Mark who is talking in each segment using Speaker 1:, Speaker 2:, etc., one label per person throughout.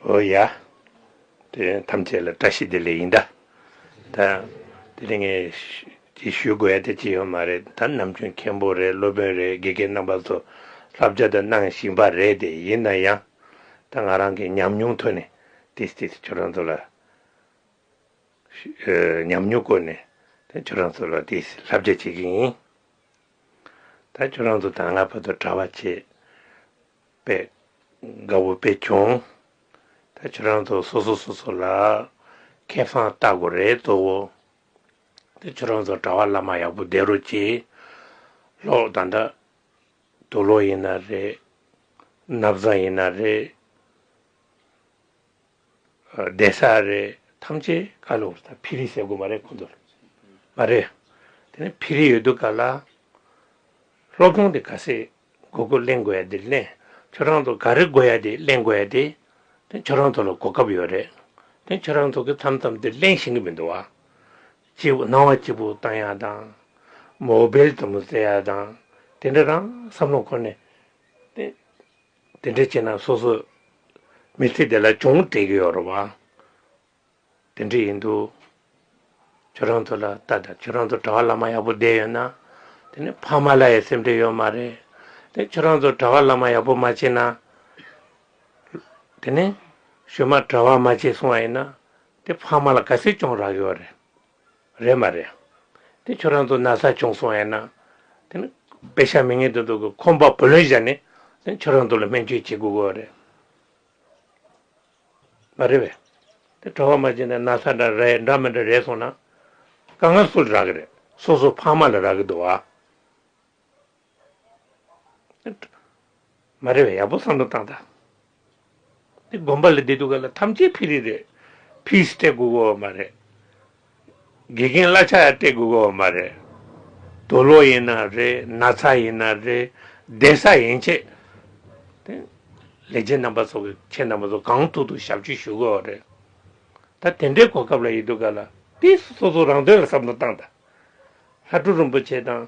Speaker 1: ཨོ་ཡ། དེ་ཐམས་ཅད་ལ་བཀྲ་ཤིས་བདེ་ལེགས་ཡིན་ད། ད། དེ་རིང་ངས། ཅིག་ཞུ་དགོས་ཡ་དེ་ཅི་ཡོད་མ་རེད་ད་ནམ་རྒྱུན་མཁན་པོ་རེད་སློབ་དཔོན་རེད་དགེ་རྒན་རྣམ་པ་ཚོ་བསླབ་བྱ་ད་གནང་བཞིན་པ་རེད་དེ་ཡིན་ན་ཡང། ད་ང་རང་གི་ཉམས་མྱོང་ཐོས་ནས་ཏིས་ཏིས་ཁྱོད་རང་ཚོ་ལ། ཉམས་མྱོང་བཀོད་ནས་ད་ཁྱོད་རང་ཚོ་ལ་ཏིས་ཏིས་བསླབ་བྱ་བྱེད་ཀྱི་ཡིན། ད་ཁྱོད་རང་ཚོ་དང་ང་བར་དུ་གྲྭ་བ་བྱེད། པའི་དགའ་བོ་དཔེ་སྐྱོང་ད་ཁྱོད་རང་ཚོ་སོ་སོ་སོ་སོ་ལ་ཁེ་བཟང་བལྟ་དགོས་རེད་དོ། དེ་ཁྱོད་རང་ཚོ་གྲྭ་བ་བླ་མ་ཡག་པོ་བསྡད་རོགས་གྱིས་ལོག་ད་ད་དུ་ལོག་ཡིན་ན་རེད་ནབ་བཟང་ཡིན་ན་རེད། བདེ་ས་རེད་ཐམས་ཅད་བཀའ་སློབ་རེད་ད་ཕི་རི་ཟེར་དགོས་མ་རེད་གོ་འདོད་ལོ་མ་རེད་དེ་ནས་ཕི་རི་ཡོད་དུ་ག་ལ་སློབ་སྦྱོང་དེ་ག་སེ་གོ་གོ་གླེང་དགོས་ཡ་དེ་གླེང་ཁྱོད་རང་ཚོ་ག་རེ་དགོས་ཡ་དེ་གླེང་དགོས་ཡ་དེ་དེ་ཁྱོད་རང་ཚོ་ལ་གོ་སྐབས་ཡོད་རེད་དེ་ཁྱོད་རང་ཚོ་གི་མཚམས་མཚམས་དེ་གླེང་ཤེས་གི་མི་འདུག་བ་གཅིག་པུ་སྣང་བ་གཅིག་པུ་བཏང་ཡ་དང་མོ་བེལ་དུམ་བུ་བཙལ་ཡ་དང་དེ་འདྲ་རང་བསམ་བློ་ཁོ་ནས་དེ། དེ་འདྲ་བྱས་ན་སོ་སོ་མི་ཚེ་འདི་ལ་ཅུང་བྲེལ་གྱི་ཡོད་རེད་བ། དེ་འདྲ་ཡིན་འདུག་ཁྱོད་རང་ཚོ་ལ་ལྟ་ད་ཁྱོད་རང་ཚོ་གྲྭ་བ་བླ་མ་ཡག་པོ་བསྡད་ཡོད་ན་དེ་ནི་ཕ་མ་ལ་ཡི་སེམས་འདྲེ་ཡོད་མ་རེད་དེ་ཁྱོད་རང་ཚོ་གྲྭ་བ་བླ་མ་ཡག་པོ་མ་བྱས་ན་དེ་ནི་གཞོན་མ་གྲྭ་བ་མ་བྱས་སོང་བ་ཡིན་ན་དེ་ཕ་མ་ལ་དགའ་སེ་ཅུང་རག་གི་ཡོད་རེད། རེད་མ་རེད། དེ་ཁྱོད་རང་ཚོ་ན་ཚ་བྱུང་སོང་ཡང་ན། དེ་ནི་བེ་ཤ་མི་ངན་དེ་ཚོ་གི་ཁོམ་པ་བུ་ལོན་བཞག་ནས་དེ་ཁྱོད་རང་ཚོ་ལ་སྨན་བཅོས་བྱེད་དགོས་དགོས་རེད། མ་རེད་བས། དེ་གྲོ་བ་མ་བྱས་ན་ན་ཚ་འདྲ་རེད་འདྲ་མི་འདྲ་རེད་སོང་ན། དཀའ་ངལ་སུ་ལ་རག་གི་རེད་སོ་སོ་ཕ་མ་ལ་རག་གི་འདུག་བ། མ་རེད་ཡག་པོ་བསམ་བློ་བཏང་དང། འདི་དགོན་པ་ལ་བསྡད་འདུག་ག་ལ་ཐམས་ཅད་ཕི་རི་རེད། Peace སྤྲད་དགོས་གོ་བ་མ་རེད། དགེ་རྒན་གླ་ཆ་ཡང་སྤྲད་དགོས་གོ་བ་མ་རེད། དོ་ལོ་ཡིན་ན་རེད་ན་ཚ་ཡིན་ན་རེད་བསྡད་ས་ཡན་ཆད་དེ། ལས་བྱེད་རྣམ་པ་སོགས་ཀྱི་ཁྱེད་རྣམ་པ་ཚོ་གང་ཐུག་ཐུག་ཞབས་ཕྱི་ཞུ་གོ་བ་རེད། ད་དེ་འདྲའི་གོ་སྐབས་ལ་ཡི་འདུག་ག་ལ། དེ་སོ་སོ་རང་དོན་ལ་བསམ་བློ་བཏང་དང། ལྷ་སྒྲུབ་རིན་པོ་ཆེ་དང།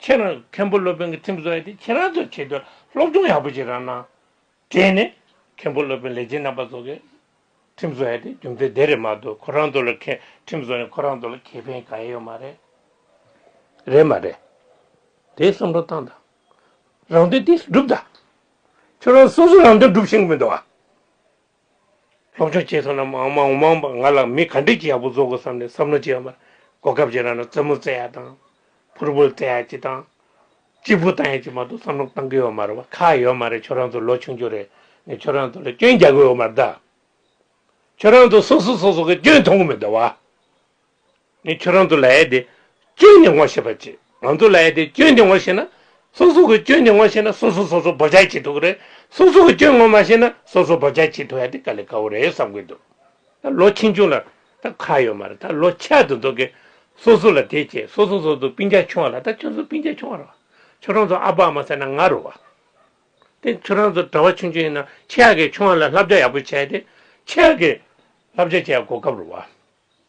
Speaker 1: ཁྱེད་རང་མཁན་པོ་སློབ་དཔོན་གྱི་ཐིམ་བཟོ་ཡ་དེ་ཁྱེད་རང་ཚོས་བྱེད་དུས་སློབ་སྦྱོང་ཡག་པོ་བྱེད་རང་གནང། དྲན་ནས། མཁན་པོ་སློབ་དཔོན་ལས་བྱེད་རྣམ་པ་ཚོ་གི་ཐིམ་བཟོ་ཡ་དེ་རྒྱུ་མཚན་དེ་རེད་མ་གཏོགས་ཁོ་རང་ཚོ་ལ་ཁེ་ཐིམ་བཟོ་ནས་ཁོ་རང་ཚོ་ལ་ཁེ་ཕན་གང་ཡོད་མ་རེད། རེད་མ་རེད། དེ་བསམ་བློ་བཏང་དང། རང་དོན་དེ་སྒྲུབ་དང། ཁྱོད་རང་སོ་སོ་རང་དོན་སྒྲུབ་ཤེས་གི་མི་འདུག་ཨ། སློབ་སྦྱོང་བྱས་སོང་ན་མང་མང་མང་མང་ང་ལ་མི་ག་འདྲས་ཀྱིས་ཡག་པོ་བཟོ་དགོས་བསམ་ནས་བསམ་བློ་བྱས་ཡོད་མ་རེད་གོ་སྐབས་ཅིག་རག་ན་རྩེད་མོ་རྩེ་ཡག་དང། ཕུར་བུ་རྩེ་ཡག་ཅིག་དང། གཅིག་པུ་བཏང་ཡག་ཅིག་མ་གཏོགས་བསམ་བློ་གཏང་གི་ཡོད་མ་རེད་བ་ཁ་ཡོད་མ་རེད་ཁྱོད་རང་ཚོ་ལོ་ཆུང་ཆུང་རེད་ནས་ཁྱོད་རང་ཚོ་ལ་སྐྱོན་རྒྱག་གི་ཡོད་མ་རེད་ད། ཁྱོད་རང་ཚོ་སོ་སོ་སོ་སོ་གི་སྐྱོན་མཐོང་གི་མི་འདུག་བ། ངས་ཁྱོད་རང་ཚོ་ལ་ཡ་དེ་གཅོད་ནས་ངོ་ཤེས་པ་བྱེད་ང་ཚོ་ལ་ཡ་དེ་གཅོད་ནས་ངོ་ཤེས་ན་སོ་སོ་གི་གཅོད་ནས་ངོ་ཤེས་ན་སོ་སོ་སོ་སོ་བོ་ཅག་བྱེད་ཐུབ་ཀི་རེད་སོ་སོ་གི་གཅོད་ངོ་མ་ཤེས་ན་སོ་སོ་བོ་ཅག་བྱེད་ཐུབ་ཡ་དེ་དཀའ་ལས་དཀའ་བོ་རེད་བསམ་གི་འདུག་ད་ལོ་ཆེ་ཆུང་ལ་ད་ཁ་ཡོད་མ་རེད་ད་ལོ་ཆད་དུ་འདུག་གི་སོ་སོ་ལ་དེ་བྱེད་སོ་སོ་སོ་སོ་པིང་ཅག་ཆུང་བ་ལ་ད་ཁྱོད་ཚོ་པིང་ཅག་ཆུང་བ་རེད་ཁྱོད་རང་ཚོ་ཨ་ཕ་ཨ་མ་ཟེར་ན་ང་རུ་བ་དེ་ཁྱོད་རང་ཚོ་གྲྭ་བ་ཆུང་ཆུང་ཡིན་ན་ཆེ་ཡག་གི་ཆུང་བ་ལ་ལྷབ་བྱ་ཡག་པོ་བྱས་ཏེ་ཆེ་ཡག་གི་ལྷབ་བྱ་བྱས་ཡག་གོ་སྐབས་རུ་བ།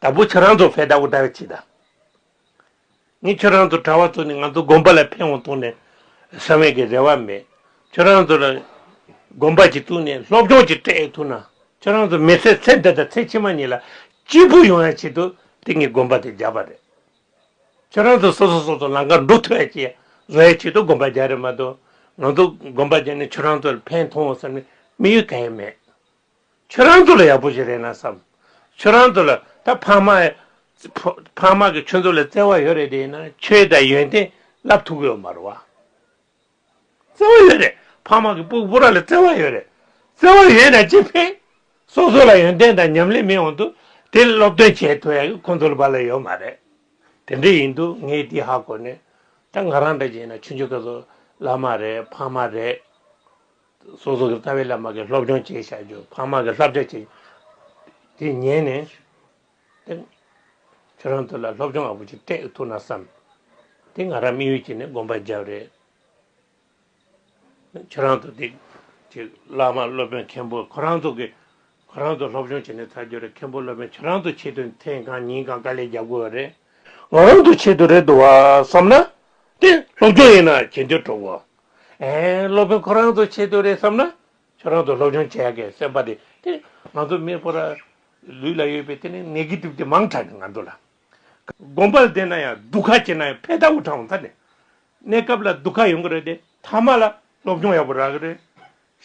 Speaker 1: དང་པོ་ཁྱོད་རང་ཚོ་བྷེ་ད་ཨུ་ད་བེ་ཅི་དང། ངས་ཁྱོད་རང་ཚོ་གྲྭ་བ་ཚོ་ནི་ང་ཚོ་དགོན་པ་ལ་ཕེན་འོང་གཏོང་ནས་ས་བོན་གྱི་རེ་བ་མེད། ཁྱོད་རང་ཚོ་ལ་དགོན་པ་ཅིག་བཙུགས་ནས་སློབ་སྦྱོང་ཅིག་སྤྲད་ཐུབ་ན་ཁྱོད་རང་ཚོ་མི་ཚེ་ཚེ་འདི་དང་ཚེ་ཕྱི་མ་གཉིས་ལ་སྐྱིད་པོ་ཡོང་ཡ་ཆེད་དུ་དེ་ངས་དགོན་པ་དེ་རྒྱབ་པ་རེད། ཁྱོད་རང་ཚོ་སོ་སོ་སོ་སོ་ལང་ཀར་འགྲོ་ཐུབ་ཡ་ཅིག་ཡ་བཟོ་ཡ་ཆེད་དུ་དགོན་པ་རྒྱག་རེད་མ་གཏོགས་ང་ཚོ་དགོན་པ་རྒྱག་ནས་ཁྱོད་རང་ཚོ་ལ་ཕན་ཐོང་འོང་བསམ་ནས་མི་ཡོད་ག་ཡ་མེད། ཁྱོད་རང་ཚོ་ལ་ཡག་པོ་ཞིག་རེད་ན་བསམ། ཁྱོད་རང་ཚོ་ལ་ད་ཕ་མ། ཕ་མ་གི་ཁྱོད་ཚོ་ལ་བརྩེ་བ་ཡོད་རེད་དེ་ཡིན་ན་ཁྱོད་ད་ཡོན་ཏན་བསླབ་ཐུབ་ཡོད་མ་རེད་བ། བརྩེ་བ་ཡོད་རེད་ཕ་མ་གི་སྤུ་སྤུ་ར་ལ་བརྩེ་བ་ཡོད་རེད། བརྩེ་བ་ཡོད་ན་ཅི་ཕན། སོ་སོ་ལ་ཡོན་ཏན་དང་ཉམས་ལེན་མེད་འོང་དུ་དེ་སློབ་སྟོན་བྱེད་ཐུབ་ཡག་གི་ཁོང་ཚོ་ལ་བ་ལ་ཡོད་མ་རེད། དེ་འདྲ་ཡིན་དུ་ངའི་དེ་ཧ་གོ་ནས། ད་ང་རང་འདྲ་ཅིག་ཡིན་ན་ཁྱོད་ཚོ་ཀ་ཚོ་བླ་མ་རེད་ཕ་མ་རེད། སོ་སོ་ཀྱི་རྩ་བའི་བླ་མ་གི་སློབ་སྦྱོང་བཅས་བྱ་རྒྱུ་འཕགས་མ་གི་བསླབ་བྱ་བྱས་དེ་ཉན་ནས་དེ་ཁྱོད་རང་ཚོ་ལ་སློབ་སྦྱོང་ཨ་བུ་ཅིག་སྤྲད་ཐུབ་ན་བསམ་དེ་ང་རང་མི་ཡུལ་གྱི་ནས་དགོན་པར་འཇབ་རེད་ཁྱོད་རང་ཚོ་དེ་ཅིག་བླ་མ་སློབ་དཔོན་མཁན་པོ་ཁོ་རང་ཚོ་གི་ཁོ་རང་ཚོ་སློབ་སྦྱོང་བྱས་ནས་ཚར་རྒྱུ་རེད་མཁན་པོ་སློབ་དཔོན་ཁྱོད་རང་ཚོ་ཆེད་དུ་ཐེངས་གང་ཉིན་གང་དཀའ་ལས་རྒྱབ་དགོས་བ་རེད་ང་རང་ཚོ་ཆེད་དུ་རེད་འདུག་བསམ་ན་དེ་སློབ་སྦྱོང་ཡིན་ན་གྱེན་དུ་འགྲོ་བ། སློབ་དཔོན་ཁོ་རང་ཚོ་ཆེད་དུ་རེད་བསམ་ན་ཁྱོད་རང་ཚོ་སློབ་སྦྱོང་བྱས་དགོས་སེམས་པ་དེ་དེ་ང་ཚོ་མི་ཕོ་ར་ལུས་ལ་ཡོད་པའི་དེ་ནི་ནེ་གི་ཏིབ་དེ་མང་དྲགས་ནས་ང་ཚོ་ལ་དགོན་པར་བསྡད་ན་ཡང་སྡུག་ཁ་བྱེད་ན་ཡང་ཕས་ཐ་འུ་ཐང་འོང་ཐ་ནི་གནས་སྐབས་ལ་སྡུག་ཁ་ཡོང་གི་རེད་དེ་ཐ་མ་ལ་སློབ་སྦྱོང་ཡག་པོ་རག་གི་རེད་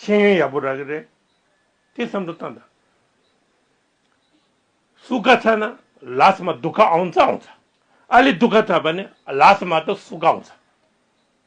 Speaker 1: ཤེས་ཡོན་ཡག་པོ་རག་གི་རེད་དེ་བསམ་བློ་བཏང་དང། སུ་ཁ་ཚ་ན་ལ་སི་མ་སྡུག་ཁ་འོང་ཚ་འོང་ཚ་ཨ་ལི་སྡུག་ཁ་ཚ་བ་ནི་ལ་སི་མ་དང་སུ་ཁ་འོང་ཚ།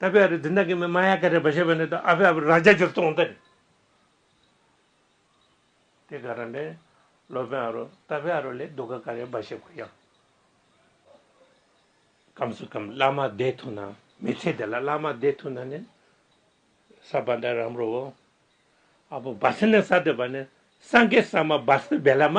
Speaker 1: ད་པེ་ཨ་རི་དེ་འདྲ་གི་མི་མ་ཡ་ག་རེད་པ་བཤད་པ་ནི་ད་ཨ་ཕེ་ཨ་ཕེ་ར་རྒྱ་ཇུར་གཏོང་ད་རེད། དེ་ག་རང་དྲན་ལོ་པེན་ཨ་རོ་ད་པེ་ཨ་རོ་ལས་སྡུག་ག་ག་རེད་པ་བཤད་དགོས་ཡང། གམ་སུ་གམ་བླ་མ་བསྡད་ཐུབ་ན་མི་ཚེ་འདི་ལ་བླ་མ་བསྡད་ཐུབ་ན་ནི་ས་བ་འདྲ་རམ་རོ་བོ་ཨ་བོ་བ་སི་ནི་ས་དེ་བ་ནི་སངས་རྒྱས་ས་མ་བ་སི་བེ་ལ་མ་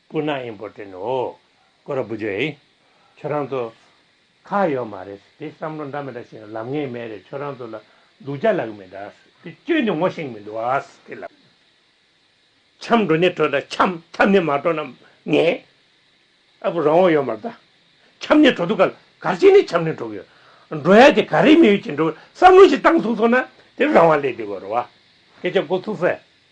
Speaker 1: སྐུ་ན་ཨིན་པོ་ཏེན་ཨོ། ཀོ་ར་པུ་ཇོ་ཨེ། ཁྱོད་རང་ཚོ། ཁ་ཡོད་མ་རེད། དེ་བསམ་བློ་འདྲ་མི་འདྲ་བྱེད་ན་ལབ་ངེས་མེད་རེད་ཁྱོད་རང་ཚོ་ལ་སྡུག་ཅག་ལབ་གི་མི་འདྲ། དེ་སྐྱོན་དེ་ངོ་ཤེས་མི་འདུག་ཨ། དེ་ལ། འཁྱམས་འགྲོ་ནི་འགྲོ་ད་འཁྱམས་འཁྱམས་ནི་མ་འགྲོ་ན་ངན། ཨ་བུ་རང་དབང་ཡོད་མ་རེད་ད། འཁྱམས་ནི་འགྲོ་འདུག་ག་ལ་གར་ཅིག་ནི་འཁྱམས་ནི་འགྲོ་གི་ཡོད། འགྲོ་ཡ་དེ་ག་རེ་མི་ཡོད་ཀྱིས་འགྲོ་བསམ་བློ་ཞིག་བཏང་ཚུགས་སོང་ན་དེ་རང་དབང་ལས་འདི་གོ་རེ་བ། སྐད་ཆ་འགོ་ཚུགས་སེ།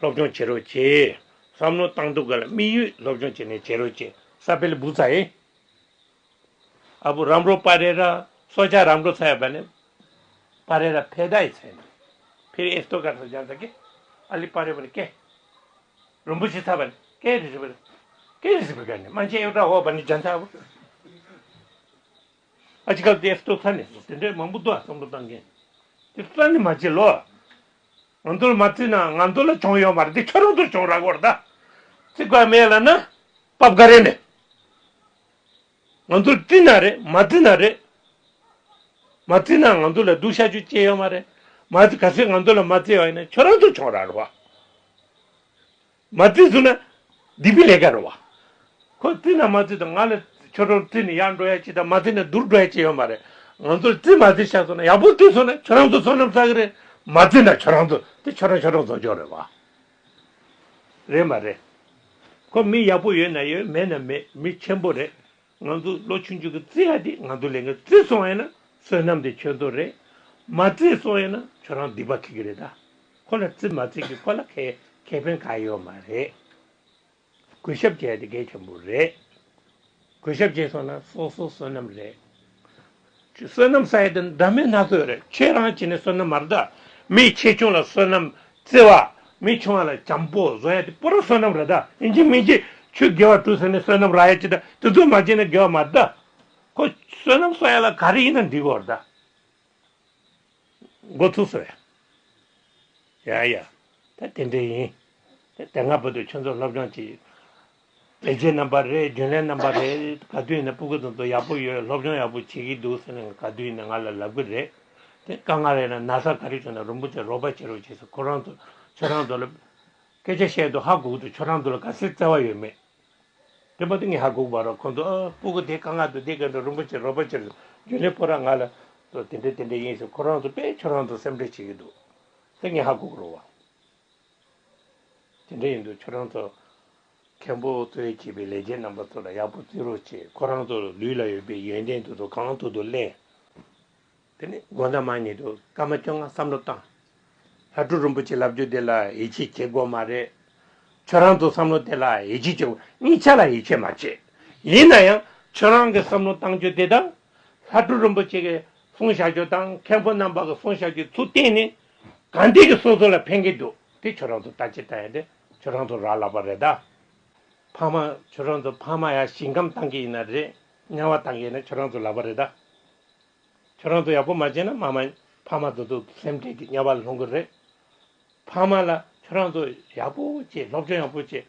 Speaker 1: སློབ་སྦྱོང་བྱེད་རོགས་ཅེས་བསམ་བློ་བཏང་འདུག་ག་ལ་དམིགས་ཡུལ་སློབ་སྦྱོང་བྱས་ནས་བྱེད་རོགས་ཅེས་ས་པེ་ལི་བུ་ཚ་ཡིས། ཨ་བུ་རམ་རོ་པ་རེ་ར་སོ་ཅག་རམ་རོ་ཚ་ཡ་པ་ལི་པ་རེ་ར་ཕེ་ད་ཡི་ཚེ་ནི་ཕེ་རི་ཨེ་སྟོ་ག་ཚ་ཇང་ཚ་ཀེ་ཨ་ལི་པ་རེ་པ་ལི་ཀེ་རོམ་པོ་ཆེ་ཚ་པ་ལི་ཀེ་རི་སི་པ་ལི་ཀེ་རི་སི་པི་ཀ་ནི་རྨ་ཆེན་ཨེ་བྲ་ཨོ་པ་ནི་ཇང་ཚ་ཨ་བུ། ཨ་ཅི་ཀ་ཏའི་ལྟོ་ཚ་ནས་བཟུང་དེ་འདྲའི་མང་པོ་འདུག་ཨ་བསམ་བློ་བཏང་མཁན་དེ་རྩ་ནས་མ་བྱེད་ལོ། ང་ཚོ་ལ་མ་བརྩིས་ན་ང་ཚོ་ལ་གྱོང་ཡོད་མ་རེད་དེ་ཁྱོད་རང་ཚོར་གྱོང་རག་གོ་རེ་ད། བརྩི་བཀག་མེད་ལ་ན་པ་བཀའ་རེ་མེད། ང་ཚོར་བརྩི་ན་རེད་མ་བརྩི་ན་རེད། མ་བརྩི་ན་ང་ཚོ་ལ་སྡུག་ཤ་ཅུ་སྐྱེ་ཡོད་མ་རེད། མ་བརྩི་ག་ཚོད་ང་ཚོ་ལ་མ་བརྩི་བ་ཡིན་ན་ཁྱོད་རང་ཚོར་གྱོང་རག་རོགས། མ་བཙིར་ཟུག་ན་སྡིག་པའི་ལས་ཀ་རུང་བ། ཁོས་བཙིར་ན་མ་བཙིར་དང་ང་ལ་ཁྱོད་རང་བཙིར་ནས་ཡར་འགྲོ་ཡ་ཅི་དང་མ་བཙིར་ན་བསྡུར་འགྲོ་ཡ་ཅི་ཡོད་མ་རེད། ང་ཚོར་བཙིར་མ་བཙིར་ཤ་ཟོ་ན་ཡག་པོ་བཙིར་སོང་ན་ཁྱོད་རང་ཚོ་བསོད་ནམས་བསགས་ཀྱི་རེད། མ་བཙིར་ན་ཁྱོད་རང་ཚོ་དེ་ཁྱོད་རང་ཁྱོད་རང་ཟོ་ཆོག་རེད་བ། རེད་མ་རེད། ཁོ་མི་ཡག་པོ་ཡོད་ན་ཡོད་མེད་ན་མེད་མི་ཆེན་པོ་རེད། ང་ཚོ་ལོ་ཆུང་ཆུང་གི་བརྩེ་ཡ་དེ་ང་ཚོ་ལས་ངན་བརྩེ་སོང་བས་ན་བསོད་ནམས་དེ་ཁྱོད་ཚོ་རེད། མ་བརྩེ་སོང་བས་ན་ཁྱོད་རང་སྡིག་པ་ཁེལ་གི་རེད་ད། ཁོ་ལ་བརྩེ་མ་བརྩེ་གི་ཁོ་ལ་ཁེ་ཁེ་ཕན་ག་ཡོད་མ་རེད། གུས་ཞབས་བྱས་དེ་གལ་ཆེན་པོ་རེད། གུས་ཞབས་བྱས་སོང་ན་སོ་སོ་བསོད་ནམས་རེད། བསོད་ནམས་ས་ཡི་དེ་འདྲ་མེད་སྣ་ཚོགས་རེད་ཁྱེད་རང་གཅིག་ནས་བསོད་ནམས་མ་རེད་མི་ཆེ་ཆུང་ལ་བསོད་ནམས་བརྩི་བ་མི་ཆུང་བ་ལ་བྱམས་པོ་བཟོ་ཡ་དེ་པོ་རང་བསོད་ནམས་རེད་ཡིན་གཅིག་མིན་གཅིག་ཆུ་དགེ་བ་དྲུག་ཟེར་ནས་བསོད་ནམས་རག་ཡ་ཅི་ད་དེ་ཚོ་མ་བྱེད་ན་དགེ་བ་མ་རེད་ཁོ་བསོད་ནམས་གསོག་ཡ་ལ་ག་རེ་ཡིན་ན་འདི་གོ་རེད་འགོ་ཚུགས་སོ་ཡ་ཡ་ཡ་ད་དེ་འདྲས་ཡིན་དེ་སྔ་བོད་དུ་ཆོས་ཚོགས་སློབ་སྦྱོང་བྱེད། བེད་སྤྱོད་རྣམ་པ་རེད་རྒྱུན་ལས་རྣམ་པ་རེད་ག་དུས་ནས་སྤུ་གུ་དང་དོ་ཡག་པོ་ཡོད་སློབ་སྦྱོང་ཡག་པོ་བྱེད་ཀྱི་འདུག་ཟེར་ནས་ག་དུས་ནས་ང་ལ་ལབ་ཀྱི་རེད་དེ་དཀའ་ངལ་རེད་ན་ན་བཟའ་ག་རེ་བྱུང་ན་རིན་པོ་ཆེ་རོགས་པ་བྱེད་རོགས་བྱེད་ཟེར་ཁོ་རང་ཚོ་ཁྱོད་རང་ཚོ་ལ་སྐད་ཆ་བཤད་དུ་ཧ་གོག་འདུག་ཁྱོད་རང་ཚོ་ལ་ག་སེར་བརྩེ་བ་ཡོད་མེད་དེ་མ་ཏོག་ངས་ཧ་གོག་པ་རོགས་ཁོང་ཚོ་ཨ་སྤུ་གུ་དེ་དཀའ་ངལ་དུ་དེ་ག་དུས་རིན་པོ་ཆེ་རོགས་པ་བྱེད་རྒྱུན་ལས་ཕོ་ར་ང་ལ་ཚོ་དེ་འདྲ་དེ་འདྲ་ཡིན་ཟེར་ཁོ་རང་ཚོ་དཔེ་ཁྱོད་རང་ཚོ་སེམས་ཁྲལ་བྱེད་ཀྱི་འདུག་ཟེར་ངས་ཧ་གོག་རོགས་བ། དེ་འདྲ་ཡིན་དུས་ཁྱོད་རང་ཚོ་མཁན་པོ་གཙོས་བྱས་པའི་ལས་བྱེད་རྣམ་པ་ཚོ་ལ་ཡག་པོ་བརྩི་རོགས་བྱས་ཁོ་རང་ཚོ་ལུས་ལ་ཡོད་པའི་ཡོན་ཏན་དེ་ཚོ་གང་ཐུབ་ཏུ་གླེང། དེ་ནས་དགོང་ཟླ་མ་ཉིད་དུ་སྐར་མ་བཅོ་ལྔ་བསམ་བློ་བཏང། ལྷ་སྤྲུལ་རིན་པོ་ཆེ་ལབ་རྒྱུ་དེ་ལ་ཡིད་ཆེས་བྱེད་དགོས་མ་རེད། ཁྱོད་རང་ཚོ་བསམ་བློ་དེ་ལ་ཡིད་ཆེས་བྱེད་དགོས་གཉིས་ཆ་ལ་ཡིད་ཆེས་མ་བྱེད། ཡིན་ན་ཡང་ཁྱོད་རང་གི་བསམ་བློ་བཏང་རྒྱུ་དེ་དང། ལྷ་སྤྲུལ་རིན་པོ་ཆེ་གི་གསུང་བཤད་རྒྱུ་དང་མཁན་པོ་རྣམ་པ་གི་གསུང་བཤད་རྒྱུའི་ཚུལ་གཏན་ནས་གང་དེ་གི་སོ་སོ་ལ་ཕན་གི་འདུག་དེ་ཁྱོད་རང་ཚོ་ད་ཅི་ལྟ་ཡ་དེ་ཁྱོད་རང་ཚོ་རག་ལག་པ་རེད་ད། ཕ་མ་ཁྱོད་རང་ཚོ་ཕ་མ་ཡ་ཞིང་ཁམས་བཏང་གི་ཡིན་ན་རེད་དམྱལ་བ་བཏང་གི་ཡིན་ན་ཁྱོད་རང་ཚོ་ལག་པ་རེད་ད། ཁྱོད་རང་ཚོ་ཡག་པོ་མ་བྱས་ན་མ་མ་ཕ་མ་ཚོ་ཚོ་སེམས་ཁྲལ་གི་དམྱལ་བ་ལྷུང་གི་རེད། ཕ་མ་ལ་ཁྱོད་རང་ཚོ་ཡག་པོ་བྱེད་སློབ་སྦྱོང་ཡག་པོ་བྱེད་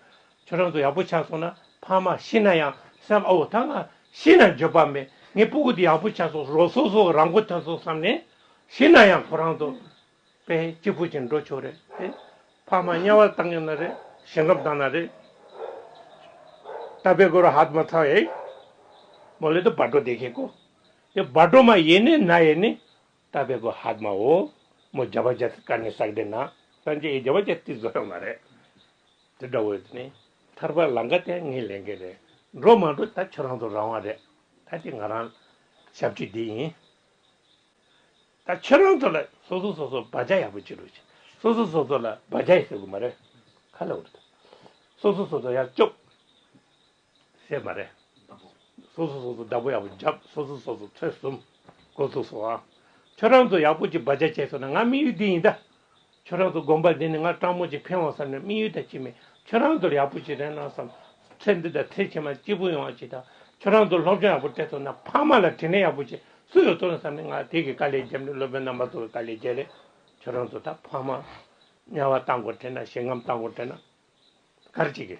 Speaker 1: ཁྱོད་རང་ཚོ་ཡག་པོ་ཆགས་སོང་ན་ཕ་མ་ཤི་ན་ཡང་བསམ་ཨོ་ད་ང་ཤི་ན་འགྱོད་པ་མེད་ངའི་སྤུ་གུ་དེ་ཡག་པོ་ཆགས་སོང་རོ་སོ་སོ་རང་མགོ་ཐོན་སོང་བསམ་ནས་ཤི་ན་ཡང་ཁོ་རང་ཚོ་དཔེ་གཅིག་པུ་ཅིག་འགྲོ་ཆོག་རེད་དེ། ཕ་མ་དམྱལ་བར་བཏང་ཡོད་ན་རེད་ཞིང་ཁམས་བཏང་ན་རེད། ད་དཔེ་དགོས་ར་ཧ་ད་མ་ཚང་ཡེད། མོ་ལེ་དོ་སྦ་སྒྲོ་དེ་ཤེས་དགོ་དེ་སྦ་སྒྲོ་མ་ཡེད་ནི་ན་ཡེད་ནི་རྟ་བལ་པོ་ཧཱ་དམའོ་མོ་རྒྱ་བ་ཇཱ་ཏི་ཀ་ནི་སག་སྡེ་ན་སངས་རྒྱས་རྒྱ་བ་ཇཱ་ཏི་བཟོ་ཡོད་མ་རེད། དེ་འདྲ་བོ་ཡོད་ནི་ཐར་པ་ལང་ཀ་དེ་ངས་ལེན་གི་རེད་འགྲོ་མ་འགྲོ་ད་ཁྱོད་རང་ཚོ་རང་དབང་རེད་ད་དེ་ང་རང་ཞབས་ཕྱི་དེ་ཡིན་ད་ཁྱོད་རང་ཚོ་ལ་སོ་སོ་སོ་སོ་བ་ཇཱ་ཡག་པོ་བྱེད་རོགས་བྱེད་སོ་སོ་སོ་སོ་ལ་བ་ཇཱ་ཡི་ཟེར་གི་མ་རེད་ཁ་ལ་འོ་རེད་ད་སོ་སོ་སོ་སོ་ཡག་སྐྱོབས། སྲེད་མ་རེད། སོ་སོ་སོ་སོ་བདག་པོ་ཡག་པོ་བརྒྱབ་སོ་སོ་སོ་སོ་ཚོད་གསུམ་སྒོ་ཚུགས་སོང་ཨ། ཁྱོད་རང་ཚོ་ཡག་པོ་ཅིག་བ་ཅག་བྱས་སོང་ན་ང་དམིགས་ཡུལ་འདི་ཡིན་ད། ཁྱོད་རང་ཚོ་དགོངས་པ་འདི་ནས་ང་སྤྲང་མོ་ཅིག་ཕན་འོང་བསམ་ན་དམིགས་ཡུལ་དང་ཅི་མེད་ཁྱོད་རང་ཚོར་ཡག་པོ་ཅིག་རེ་གནང་བསམ། ཚེ་འདི་དང་ཚེ་ཕྱི་མ་སྐྱིད་པོ་ཡོང་བ་ཅིག་དང་ཁྱོད་རང་ཚོར་སློབ་སྦྱོང་ཡག་པོ་སྤྲད་སོང་ན་ཕ་མ་ལ་དྲིན་ལན་ཡག་པོ་ཅིག་སུ་ཡོད་ཚོར་ན་བསམ་ནས་ང་དེ་གི་དཀའ་ལས་བརྒྱབ་ནས་སློབ་དཔོན་རྣམ་པ་ཚོ་གི་དཀའ་ལས་བརྒྱད་རེད་ཁྱོད་རང་ཚོ་ད་ཕ་མ། དམྱལ་བ་བཏང་དགོས་དྲན་ན་ཞིང་ཁམས་བཏང་དགོས་དྲན་ན། གར་ཅིག་གི།